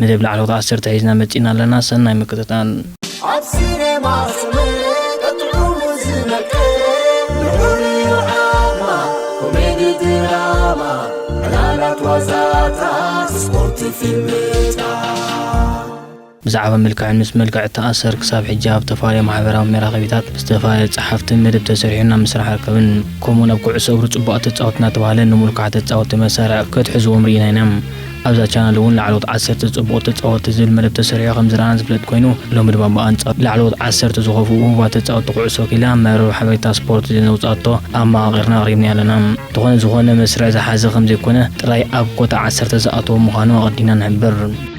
መደብ ላዕለዎት ዓሰርተ ሒዝና መጺእና ኣለና ሰናይ ምክትታል። ኣብ ሲነማ ሰመረ ጠጥዑሙ ዝመቀረ ልዑል'ዩ ዓቕማ ኮሜዲ ድራማ ዕላላት ዋዛታት ስፖርት ፊልምታት። ብዛዕባ መልክዕን ምስ መልክዕ እተኣሰር ክሳብ ሕጂ ኣብ እተፋለየ ማሕበራዊ መራኸቢታት ብዝተፋለየ ጸሓፍትን መደብ ተሰሪሑን ኣብ ምስራሕ ይርከብን። ከምኡ'ውን ኣብ ኩዕሶ እግሪ ጽቡቓት ተጻወትቲ እናተባህለ ንምልኩዓት ተጻወትቲ መሳርዕ ከትሕዝዎም ርኢና ኢና። ኣብዛ ቻነል እውን ላዕለዎት ዓሰርተ ፅቡቕ ተፃወትቲ ዝብል መደብ ተሰሪሑ ከምዝረኣናን ዝፍለጥ ኮይኑ ሎሚ ድማ ብኣንፃሩ ላዕለዎት ዓሰርተ ዝኾፍኡ ውሁባት ተፃወትቲ ኩዕሶ ክኢላ መርበብ ሓበሬታ ስፖርት ዜና ዘውፅኣቶ ኣመቓቒርና ኣቕሪብናዮ ኣለና። እንተኾነ ዝኾነ መስርዕ ዝሓዘ ከምዘይኮነ ጥራይ ኣብ ኮታ ዓሰርተ ዝኣተወ ምዃኑ ኣቐዲምና ንሕብር።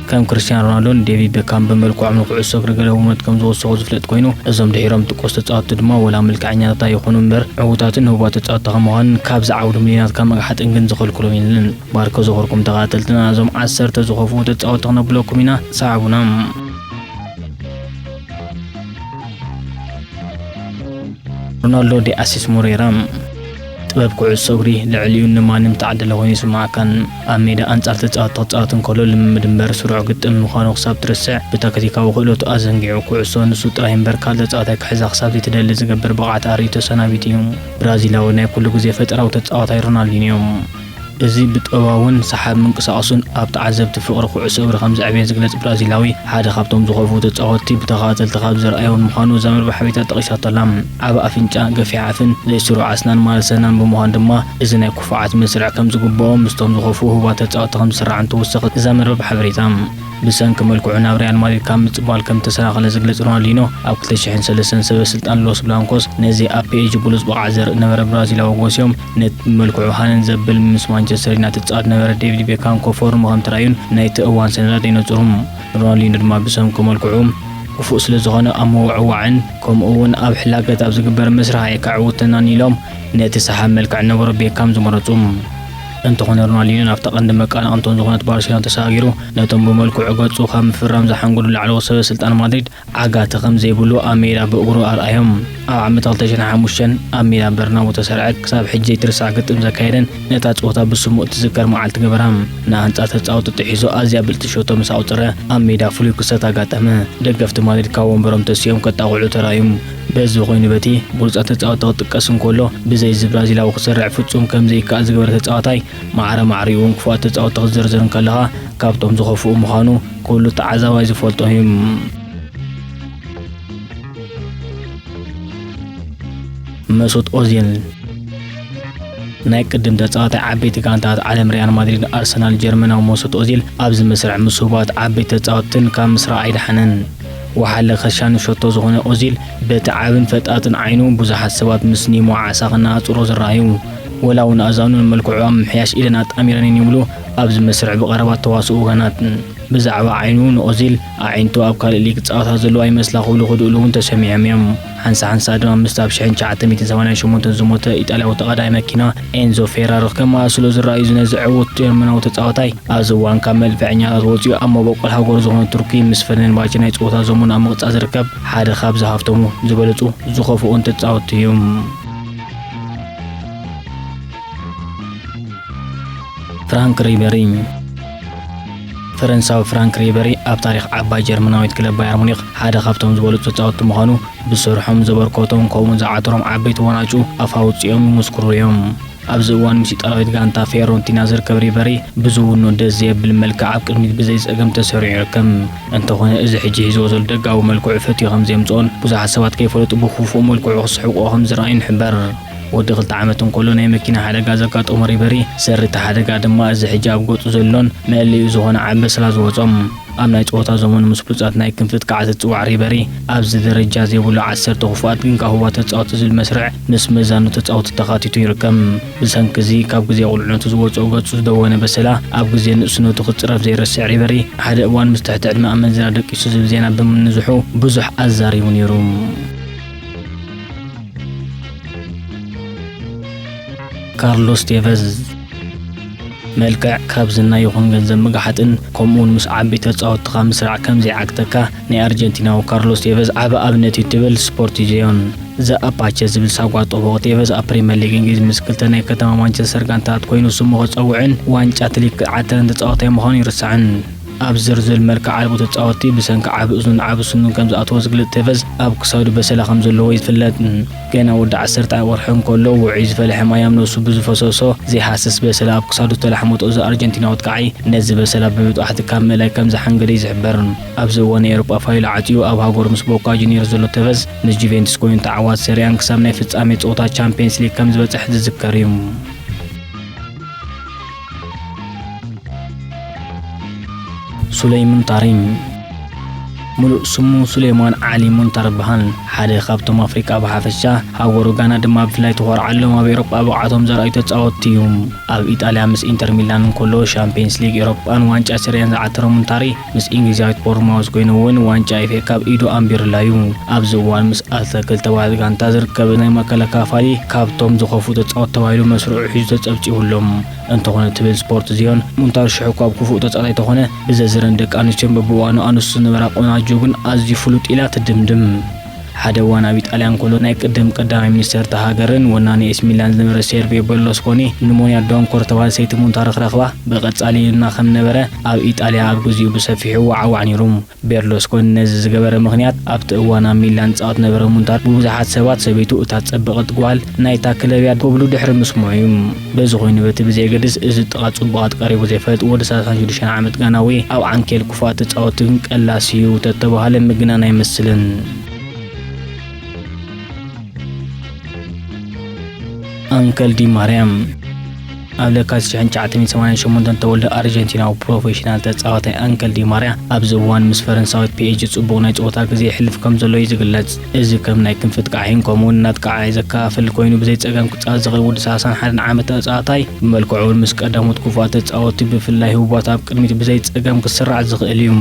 ከም ክርስትያን ሮናልዶን ዴቪድ ቤካም ብመልክዖም ንኩዕሶ እግሪ ገለ ውኑነት ከምዝወሰኹ ዝፍለጥ ኮይኑ እዞም ድሒሮም ዝጥቀሱ ተፃወትቲ ድማ ወላ መልክዐኛታት ኣይኾኑ እምበር ዕውታትን ህቡባት ተፃወትቲ ከምዃንን ካብዚ ዓውዲ ሚልዮናት ካብ ምግሓጥን ግን ዝኸልክሎም የለን። ባርኮ ዝኽርኩም ተኻተልትና እዞም ዓሰርተ ዝኸፍኡ ተጻወቲ ክነብለኩም ኢና ሰዓቡና። ሮናልዶ ዲ ኣሲስ ሞሬራ ጥበብ ኩዕሶ እግሪ ልዕሊኡ ንማንም ተዓደለ ኮይኑ ይስምዓካን ኣብ ሜዳ ኣንጻር ተጻወቲ ክጻወት እንከሎ ልምምድ እምበር ስሩዕ ግጥም ምዃኑ ክሳብ ትርስዕ ብታክቲካዊ ክእለቱ ኣዘንጊዑ ኩዕሶ ንሱ ጥራይ እምበር ካልእ ተጻዋታይ ክሕዛ ክሳብ ዘይትደሊ ዝገብር ብቕዓት ኣርእዩ ተሰናቢቱ እዩ። ብራዚላዊ ናይ ኩሉ ግዜ ፈጠራዊ ተጻዋታይ ሮናልዲንዮ እዚ ብጠባውን ሰሓብ ምንቅሳቕሱን ኣብ ተዓዘብቲ ፍቕሪ ኩዕሶ እግሪ ከም ዘዕበየ ዝግለጽ ብራዚላዊ፣ ሓደ ካብቶም ዝኸፍኡ ተጻወትቲ ብተኸታተልቲ ካብ ዘርኣዮም ምዃኑ እዛ መርበብ ሓበሬታ ጠቒሳቶ'ላ። ዓቢ ኣፍንጫ፣ ገፊሕ ኣፍን ዘይ ስሩዕ ኣስናን ማለት ሰናን ብምዃኑ ድማ እዚ ናይ ኩፉዓት መስርዕ ከም ዝግብኦ ምስቶም ዝኸፍኡ ህቡባት ተጻወትቲ ከም ዝስራዕን ትውስኽ እዛ መርበብ ሓበሬታ። ብሰንኪ መልክዑ ናብ ሪያል ማድሪድ ካብ ምጽንባል ከም እተሰናኸለ ዝግለጽ ሮናልዲኖ፣ ኣብ ክልተ ሽሕን ሰለስተን ሰበ ስልጣን ሎስ ብላንኮስ ነዚ ኣብ ፒኤጂ ብሉጽ ብቕዓት ዘርኢ ነበረ ብራዚላዊ ጎስዮም ነቲ መልክዑ ሃነን ዘብል ምስ ማንቸስተር ዩናይትድ ዝጻወት ዝነበረ ዴቪድ ቤካም ከፎርሞ ከም ተራእዩን ናይቲ እዋን ሰነዳት የነጽሩ። ሮናልዲኖ ድማ ብሰንኩ መልክዑ ክፉእ ስለ ዝኾነ ኣብ ምውዕዋዕን ከምኡ'ውን ኣብ ሕላገት ኣብ ዝግበር ምስራሕ ኣየካዕውተናን ኢሎም ነቲ ሰሓቢ መልክዕ ዝነበሮ ቤካም ዝመረጹ። እንተኾነ ሮናልዲኖ ናብታ ቀንዲ መቀናቕንቶም ዝኾነት ባርሴሎና ተሰጋጊሩ ነቶም ብመልክዑ ገጹ ካብ ምፍራም ዝሓንገዱ ላዕለዎት ሰበ ስልጣን ማድሪድ ዓጋቲ ከም ዘይብሉ ኣብ ሜዳ ብእግሩ ኣርኣዮም። ኣብ ዓመት ክልተ ሽሕ ሓሙሽተን ኣብ ሜዳ በርናቡ እተሰርዐ ክሳብ ሕጂ ዘይትርሳዕ ግጥም ዘካየደን ነታ ጸወታ ብስሙ እትዝከር መዓልቲ ገበራ። ንኣንጻር ተጻወቲ ጥሒሱ ኣዝያ ብልጽቲ ሸቶ ምስ ኣቑጸረ ኣብ ሜዳ ፍሉይ ክስተት ኣጋጠመ። ደገፍቲ ማድሪድ ካብ ወንበሮም ተሲኦም ከጣቕዑ ተራእዩም። በዚ ኮይኑ በቲ ብሉጻት ተጻወቲ ክጥቀስ እንከሎ ብዘይ እዚ ብራዚላዊ ክስርዕ ፍጹም ከም ዘይከኣል ዝገበረ ተጻዋታይ ማዕረ ማዕሪኡን ክፉኣት ተጻወቲ ክትዝርዝር እንከለኻ ካብቶም ዝኸፍኡ ምዃኑ ኩሉ ተዓዛባይ ዝፈልጦ'ዩ። መሱት ኦዚል ናይ ቅድም ተጻዋታይ ዓበይቲ ጋንታት ዓለም ሪያል ማድሪድ ኣርሰናል ጀርመናዊ መሱት ኦዚል ኣብዚ መስርዕ ምስ ህቡባት ዓበይቲ ተጻወትን ካብ ምስራቕ ኣይደሓነን ወሓለ ከሻኒ ሸቶ ዝኾነ ኦዚል በቲ ዓብን ፈጣጥን ዓይኑ ብዙሓት ሰባት ምስ ኒሞ ዓሳ ክነኣጽሮ ዝረኣዩ ወላ ውን ኣእዛኑ ንመልክዑ ኣብ ምምሕያሽ ኢደን ኣጣሚረን እየን ይብሉ ኣብዚ መስርሕ ብቐረባ እተዋስኡ ወገናት። ብዛዕባ ዓይኑ ንኦዚል፣ ኣዒንቱ ኣብ ካልእ ሊግ ክጻወታ ዘለዎ ኣይመስላ ክብሉ ክድእሉ ውን ተሰሚዖም እዮም። ሓንሳእ ሓንሳእ ድማ ምስቲ ኣብ ሽሕን ትሽዓተ ሚእትን ሰማንያን ሸሞንተን ዝሞተ ኢጣልያዊ ተቓዳዳይ መኪና ኤንዞ ፌራሪ ከመሳስሎ ዝረኣይ እዩ ነዚ ዕዉት ጀርመናዊ ተጻዋታይ። ኣብዚ እዋን ካብ መልፈዐኛታት ወጺኡ ኣብ መበቆል ሃገሩ ዝኾነት ቱርኪ ምስ ፈነንባቸ ናይ ጸወታ ዘመኑ ኣብ ምቕጻል ዝርከብ ሓደ ካብዚ ሃፍቶም ዝበለጹ ዝኸፍኡን ተጻወቲ እዩ። ፍራንክ ሪበሪ ፈረንሳዊ ፍራንክ ሪበሪ ኣብ ታሪኽ ዓባይ ጀርመናዊት ክለብ ባየር ሙኒክ ሓደ ካብቶም ዝበሉፅ ተፃወትቲ ምዃኑ ብስርሖም ዘበርከቶም ከምኡውን ዝዓተሮም ዓበይቲ ዋናጩ ኣፍ ኣውፅኦም ይምስክሩ እዮም። ኣብዚ እዋን ምስ ኢጣልያዊት ጋንታ ፊዮረንቲና ዝርከብ ሪበሪ ብዝውኑ ደስ ዘየብል መልክዕ ኣብ ቅድሚት ብዘይፀገም ተሰሪዑ ይርከብ። እንተኾነ እዚ ሕጂ ሒዝዎ ዘሎ ደጋዊ መልክዑ ፈትዩ ከም ዘየምጽኦን ብዙሓት ሰባት ከይፈለጡ ብኽፉእ መልክዑ ክስሕቕዎ ከም ዝረኣዩን ይሕበር። ወዲ ክልተ ዓመት እንከሎ ናይ መኪና ሓደጋ ዘጋጠሞ ሪበሪ፣ ሰሪ እቲ ሓደጋ ድማ እዚ ሕጂ ኣብ ገጹ ዘሎን መእለዪኡ ዝኾነ ዓበስላ ዝወጾም። ኣብ ናይ ጸወታ ዘመኑ ምስ ብሉጻት ናይ ክንፊ ትካዓት ዝጽዋዕ ሪበሪ፣ ኣብዚ ደረጃ ዘይብሉ ዓሰርተ ክፉኣት ግን ጋህዋ ተጻወቲ ዝብል መስርዕ ምስ መዛኑ ተጻወቲ ተኻቲቱ ይርከብ። ብሰንኪ እዚ ካብ ግዜ ቁልዕነቱ ዝወጽኦ ገጹ ዝደወነ በሰላ፣ ኣብ ግዜ ንእስነቱ ክጽረፍ ዘይረስዕ ዒበሪ፣ ሓደ እዋን ምስ ትሕቲ ዕድመ ኣመንዝራ ደቂሱ ዝብል ዜና ብምንዝሑ ብዙሕ ኣዛሪቡ ነይሩ። ካርሎስ ቴቨዝ መልክዕ ካብ ዝና ይኹን ገንዘብ ምግሓጥን ከምኡውን ምስ ዓበይቲ ተጻወትኻ ምስራዕ ከም ዘይዓግተካ ናይ ኣርጀንቲናዊ ካርሎስ ቴቨዝ ዓቢ ኣብነት እዩ ትብል ስፖርቲዜዮን። ዘ ኣፓቸ ዝብል ሳጓ ጠበቑ ቴቨዝ ኣብ ፕሪመር ሊግ እንግሊዝ ምስ ክልተ ናይ ከተማ ማንቸስተር ጋንታታት ኮይኑ ስሙ ከጸውዕን ዋንጫ ትሊግ ክዓትርን ተጻዋታይ ምዃኑ ኣይርሳዕን። ኣብ ዝርዝር መልክዕ ኣልቦ ተጻወትቲ ብሰንኪ ዓቢ እዝኑን ዓቢ ስኑን ከም ዝኣተዎ ዝግለጽ ቴቨዝ ኣብ ክሳዱ በሰላ ከም ዘለዎ እዩ ዝፍለጥ። ገና ወዲ ዓሰርተ ኣወርሒ እንከሎ ውዑይ ዝፈልሐ ማይ ኣብ ነብሱ ብዝፈሰሶ ዘይሃስስ በሰላ ኣብ ክሳዱ ዝተላሕመቶ እዛ ኣርጀንቲናዊት ክዓይ ነዚ በሰላ ብምጥባሕቲ ካብ ምእላይ ከም ዝሓንገደ እዩ ዝሕበር። ኣብዚ እዋን ናይ ኤውሮጳ ፋይል ዓጽዩ ኣብ ሃገሩ ምስ ቦካ ጁንዮርስ ዘሎ ተቨዝ፣ ምስ ጁቬንቱስ ኮይኑ ተዓዋቲ ሰሪኣን ክሳብ ናይ ፍጻሜ ጸወታ ቻምፕየንስ ሊግ ከም ዝበጸሕ ዝዝከር እዩ። ሱለይ ሙንታሪኝ ምሉእ ስሙ ሱሌማን ዓሊ ሙንታር በሃል ሓደ ካብቶም ኣፍሪቃ ብሓፈሻ ሃገሩ ጋና ድማ ብፍላይ ተኾርዓሎም ኣብ ኤሮጳ ብቕዓቶም ዘርኣዩ ተጻወትቲ እዩ ኣብ ኢጣልያ ምስ ኢንተር ሚላን እንከሎ ሻምፕየንስ ሊግ ኤሮጳን ዋንጫ ስርያን ዝዓተረ ሙንታሪ ምስ ኢንግሊዛዊት ቦርንማውዝ ኮይኑ እውን ዋንጫ ኤፍኤ ካብ ኢዱ ኣንቢሩላ እዩ። ኣብዚ እዋን ምስ ኣልተክል ተባሂት ጋንታ ዝርከብ ናይ ማእከላይ ክፋፋሊ ካብቶም ዝኸፍኡ ተጻወቲ ተባሂሉ መስርዑ ሒዙ ተጸብጺቡ ኣሎ። እንተኾነ ትብል ስፖርት ዝዮን፣ ሙንታር ሽሕ'ኳ ኣብ ክፉእ ተጻዋታይ እንተኾነ ብዘዝረን ደቂ ኣንስትዮን በብእዋኑ ኣንስቱ ዝነበራ ቆናጁ ግን ኣዝዩ ፍሉጥ ኢላ ትድምድም። ሓደ እዋን ኣብ ኢጣልያ እንከሎ ናይ ቅድም ቀዳማይ ሚኒስተር እታ ሃገርን ወናኒ ኤሲ ሚላን ዝነበረ ሴርቪዮ በርሎስኮኒ ንሞያ ዶንኮር ዝተባህለ ሰይቲ ሙንታ ረኽረኽባ ብቐጻሊ ይንና ከም ዝነበረ ኣብ ኢጣልያ ኣብ ግዚኡ ብሰፊሑ ይወዓዋዕ ነይሩ። ቤርሎስኮኒ ነዚ ዝገበረ ምኽንያት ኣብቲ እዋን ኣብ ሚላን ዝጻወት ዝነበረ ሙንታ ብብዙሓት ሰባት ሰበይቱ እታ ዝጸበቐት ጓል ናይታ ክለብ እያ ክብሉ ድሕሪ ምስምዑ እዩ። በዚ ኮይኑ በቲ ብዘየገድስ እዚ ጥቓ ጽቡቓት ቀሪቡ ዘይፈልጥ ወዲ ሰላሳን ሽዱሽተን ዓመት ጋናዊ ኣብ ዓንኬል ክፉኣት ተጻወቲ ግን ቀላሲ እዩ ተተባህለ ምግናን ኣይመስልን። ኣንከል ዲ ማርያም ኣብ ለካቲት 1988 ዝተወልደ ኣርጀንቲናዊ ፕሮፌሽናል ተጻዋታይ ኣንከል ዲማርያ ኣብዚ እዋን ምስ ፈረንሳዊት ፒኤጂ ጽቡቕ ናይ ጸወታ ግዜ ይሕልፍ ከም ዘሎ እዩ ዝግለጽ። እዚ ከም ናይ ክንፊ ጥቃዒን ከምኡውን እናጥቃዓይ ዘከፋፍል ኮይኑ ብዘይ ጸገም ክጻወት ዝኽእል ውዲ ሰላሳን ሓደን ዓመት ተጻዋታይ ብመልክዑ እውን ምስ ቀዳሞት ክፉኣት ተጻወቲ ብፍላይ ህቡባት ኣብ ቅድሚት ብዘይ ጸገም ክስራዕ ዝኽእል እዩ።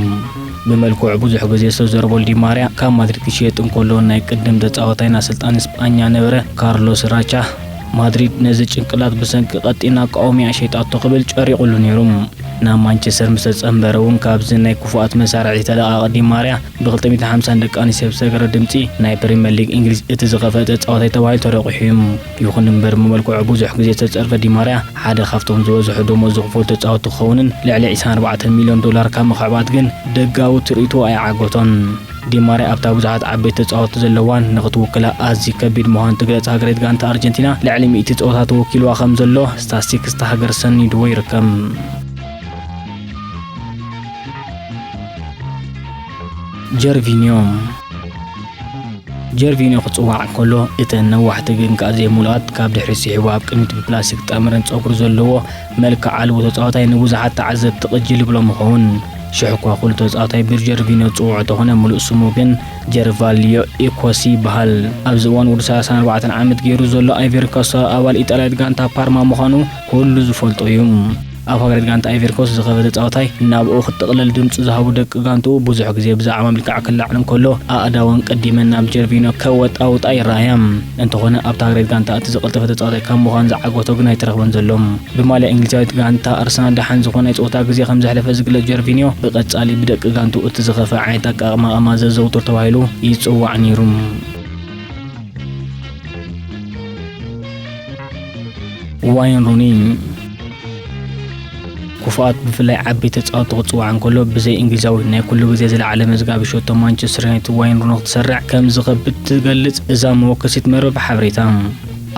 ብመልክዑ ብዙሕ ግዜ ዝተዘረበሉ ዲ ማርያ ካብ ማድሪድ ክሽየጥ እንከሎ ናይ ቅድም ተጻዋታይን ኣሰልጣኒ ስጳኛ ነበረ ካርሎስ ራቻ ማድሪድ ነዚ ጭንቅላት ብሰንኪ ቀጢን ኣቃውሚኣ ሸይጣቶ ክብል ጨሪቑሉ ነይሩ። ናብ ማንቸስተር ምስ ተጸንበረ እውን ካብዚ ናይ ክፉኣት መሳርዒ ዝተለቃቂ ዲ ማርያ ብክልተ ሚእትን ሓምሳን ደቂ ኣንስትዮ ብዝተገብረ ድምጺ ናይ ፕሪመር ሊግ እንግሊዝ እቲ ዝኸፍአ ተጻዋታይ ተባሂሉ ተረቝሑ እዩ። ይኹን እምበር ብመልክዑ ብዙሕ ግዜ ዝተጸርፈ ዲ ማርያ ሓደ ካብቶም ዝበዝሑ ደሞዝ ዝኽፈሉ ተጻወትቲ ክኸውንን ልዕሊ ዒስራን ኣርባዕተን ሚልዮን ዶላር ካብ ምኽዕባት ግን ደጋዊ ትርኢቱ ኣይዓገቶን። ዲ ማርያ ኣብታ ብዙሓት ዓበይቲ ተጻወትቲ ዘለዋን ንኽትውክላ ኣዝዩ ከቢድ ምዃኑ እትግለጽ ሃገርቤት ጋንታ ኣርጀንቲና ልዕሊ ሚእቲ ጸወታ ተወኪልዋ ከምዘሎ ስታስቲክስ እታ ሃገር ሰኒድዎ ይርከብ። ጀርቪንዮ ጀርቪንዮ ክጽዋዕ እንከሎ እተን ነዋሕቲ ግን ከኣ ዘይምሉኣት ካብ ድሕሪ ስሒቡ ኣብ ቅድሚት ብፕላስቲክ ጠምረን ጸጉሪ ዘለዎ መልክዕ ኣልቦ ተጻዋታይ ንብዙሓት ተዓዘብቲ ቅጅል ይብሎም ይኸውን ሽሕ እኳ ኩሉ ተጻዋታይ ብጀርቪንዮ ዝጽውዖ ተኾነ ምሉእ ስሙ ግን ጀርቫልዮ ኢኮሲ ይበሃል ኣብዚ እዋን ወዲ 34 ዓመት ገይሩ ዘሎ ኣይቨርኮሶ ኣባል ኢጣልያዊት ጋንታ ፓርማ ምዃኑ ኩሉ ዝፈልጦ እዩ ኣብ ሃገረ ጋንታ ኣይቨሪኮስት ዝኸበ ተጻዋታይ ናብኡ ክትጥቕለል ድምጹ ዝሃቡ ደቂ ጋንትኡ ብዙሕ ግዜ ብዛዕባ ምልቃዕ ክለዓል እንከሎ ኣእዳወን ቀዲመን ናብ ጀርቪኖ ከወጣውጣ ይረኣያ። እንተኾነ ኣብታ ሃገረ ጋንታ እቲ ዝቐልጠፈ ተጻዋታይ ካብ ምዃን ዝዓገቶ ግን ኣይተረኽበን ዘሎ። ብማልያ እንግሊዛዊት ጋንታ ኣርሰናል ደሓን ዝኾነ ናይ ጸወታ ግዜ ከም ዘሕለፈ ዝግለጽ ጀርቪኒዮ ብቐጻሊ ብደቂ ጋንትኡ እቲ ዝኸፍኣ ዓይነት ኣቀማቕማ ዘዘውትር ተባሂሉ ይጽዋዕ ነይሩ። ዋይን ሩኒ ክፉኣት ብፍላይ ዓበይቲ ተጻወቲ ክጽዋዕ እንከሎ ብዘይ እንግሊዛዊ ናይ ኩሉ ግዜ ዝለዓለ መዝጋቢ ሸቶ ማንቸስተር ዩናይትድ ዋይን ሩኒ ክትሰርዕ ከም ዝኸብድ ትገልጽ እዛ መወከሲት መርበብ ሓበሬታ።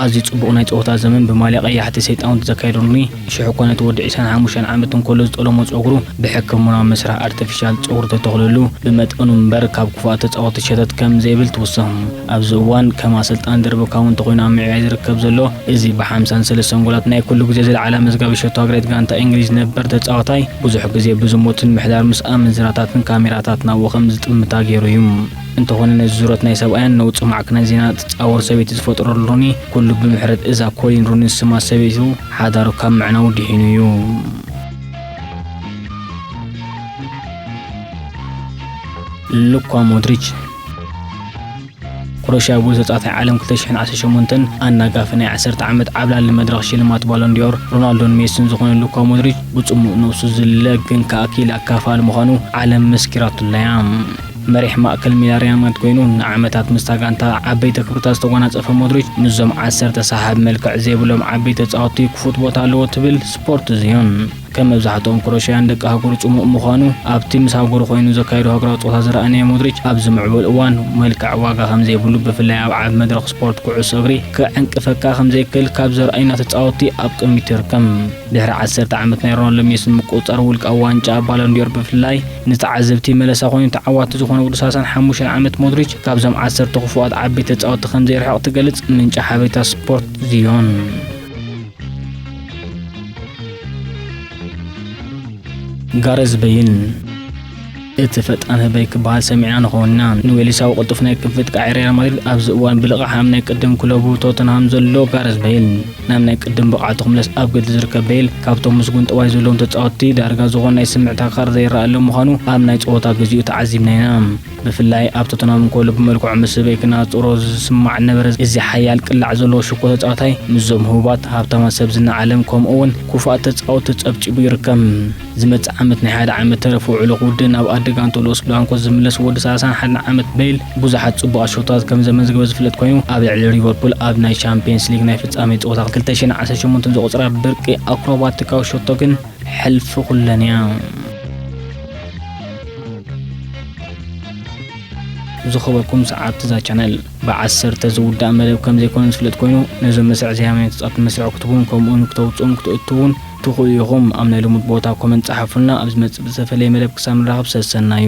ኣዝዩ ጽቡቕ ናይ ጸወታ ዘመን ብማልያ ቀያሕቲ ሰይጣውንቲ ዘካየደ ሩኒ፣ ሽሕ እኳ ነቲ ወዲ ዒስራን ሓሙሽተን ዓመት እንከሎ ዝጠለሞ ጸጉሩ ብሕክምናዊ መስርሕ ኣርተፊሻል ጸጉሪ ተተኽለሉ፣ ብመጠኑ እምበር ካብ ክፉኣት ተጻወቲ ሸተት ከም ዘይብል ትውስኽ። ኣብዚ እዋን ከም ኣሰልጣኒ ደርበካዊ እንተኾይኑ ኣብ ምዕያይ ዝርከብ ዘሎ እዚ ብ ሓምሳን ሰለስተን ጎላት ናይ ኩሉ ግዜ ዝለዓለ ኣመዝጋቢ ሸቶ ኣግሬት ጋንታ ኢንግሊዝ ነበር ተጻዋታይ ብዙሕ ግዜ ብዝሙትን ምሕዳር ምስ ኣመንዝራታትን ካሜራታት ናብኡ ከም ዝጥምታ ጌሩ እዩ። እንተኾነ ነዚ ዙረት ናይ ሰብኣያን ነውጺ ማዕከናት ዜና ትጻወር ሰበይቲ ዝፈጠረሉ ሩኒ ኩሉ ብምሕረት እዛ ኮሊን ሩኒ ዝስማ ሰበይቱ ሓዳሩ ካብ ምዕናዉ ድሒኑ እዩ። ሉኳ ሞድሪች። ክሮሽያ ብሉጻት ናይ ዓለም 2018ን ኣናጋፊ ናይ ዓሰርተ ዓመት ዓብላሊ መድረኽ ሽልማት ባሎንዲዮር ሮናልዶን ሜሲን ዝኾነ ሉካ ሞድሪች ብጽሙእ ነብሱ ዝልለ ግን ከኣ ክኢላ ኣካፋሊ ምዃኑ ዓለም መስኪራትሉ'ያ። መሪሕ ማእከል ሜዳ ሪያል ማድሪድ ኮይኑ ንዓመታት ምስታ ጋንታ ዓበይቲ ክብርታት ዝተጓናጸፈ ሞድሪች ምስዞም ዓሰርተ ሰሓቢ መልክዕ ዘይብሎም ዓበይቲ ተጻወትቲ ክፉት ቦታ ኣለዎ ትብል ስፖርት ዝዩን። ከም መብዛሕትኦም ክሮሽያን ደቂ ኣህጉሩ ጽሙእ ምዃኑ፣ ኣብቲ ምስ ኣህጉሩ ኮይኑ ዘካይዶ ሃገራዊ ጸወታ ዝረኣናዮ ሞድሪች፣ ኣብዚ ምዕቡል እዋን መልክዕ ዋጋ ከም ዘይብሉ፣ ብፍላይ ኣብ ዓቢ መድረኽ ስፖርት ኩዕሶ እግሪ ክዕንቅፈካ ከም ዘይክእል ካብ ዘርእዩና ተጻወትቲ ኣብ ቅድሚት ይርከብ። ድሕሪ ዓሰርተ ዓመት ናይ ሮናልዶን ሜሲን ምቁጽጻር ውልቃዊ ዋንጫ ባሎንድዮር ብፍላይ ንተዓዘብቲ መለሳ ኮይኑ፣ ተዓዋቲ ዝኾነ ውዲ ሰላሳን ሓሙሽተን ዓመት ሞድሪች ካብዞም ዓሰርተ ክፉኣት ዓበይቲ ተጻወትቲ ከም ዘይርሕቕ ትገልጽ ምንጪ ሓበሬታ ስፖርት ዝዮን። ጋረዝ በይን እቲ ፈጣን ህበይ ክበሃል ሰሚዕና ንኸውን ኢና ንዌሊሳዊ ቅልጡፍ ናይ ክንፊ ጥቃዒ ሪያል ማድሪድ ኣብዚ እዋን ብልቕሓም ናይ ቅድም ክለቡ ቶተንሃም ዘሎ ጋረዝ በይል ናብ ናይ ቅድም ብቕዓቱ ክምለስ ኣብ ገድሊ ዝርከብ በይል ካብቶም ምስጉን ጠባይ ዘለዎም ተፃወትቲ ዳርጋ ዝኾን ናይ ስምዕታ ካር ዘይረኣሎም ምዃኑ ኣብ ናይ ፀወታ ግዚኡ ተዓዚብና ኢና ብፍላይ ኣብ ቶተንሃም እንከሎ ብመልክዑ ምስ ህበይ ክነጻጽሮ ዝስማዕ ነበረ። እዚ ሓያል ቅላዕ ዘለዎ ሽኮ ተጻዋታይ ምስዞም ህቡባት ሃብታማት ሰብ ዝና ዓለም ከምኡ'ውን ኩፉኣት ተጻወቲ ተጸብጺቡ ይርከብ። ዝመጽእ ዓመት ናይ ሓደ ዓመት ተረፍ ውዕሎ ክውድእን ኣብ ኣደ ጋንትኡ ሎስ ብላንኮስ ዝምለስ ወዲ ሰላሳን ሓደን ዓመት በይል ብዙሓት ጽቡቓት ሸቶታት ከምዘመዝገበ ዝፍለጥ ኮይኑ ኣብ ልዕሊ ሊቨርፑል ኣብ ናይ ቻምፕየንስ ሊግ ናይ ፍጻሜ ጸወታ ክልተ ሽሕን ዓሰርተ ሸሞንተን ዘቑጽራ ብርቂ ኣክሮባቲካዊ ሸቶ ግን ሕልፊ ኩለን እያ። ዝኸበርኩም ሰዓብቲ እዛ ቻነል ብዓሰርተ ዝውዳእ መደብ ከም ዘይኮነ ዝፍለጥ ኮይኑ ነዞም መስርዕ ዘይሃመኒ ተጻብቲ መስርዕ ክትቡን ከምኡውን ክተውፅኡን ክትእትውን ትኽእሉ ኢኹም ኣብ ናይ ልሙድ ቦታ ኮመንት ጸሓፉልና ኣብ ዝመጽእ ብዝተፈለየ መደብ ክሳብ ንራኸብ ሰሰናዩ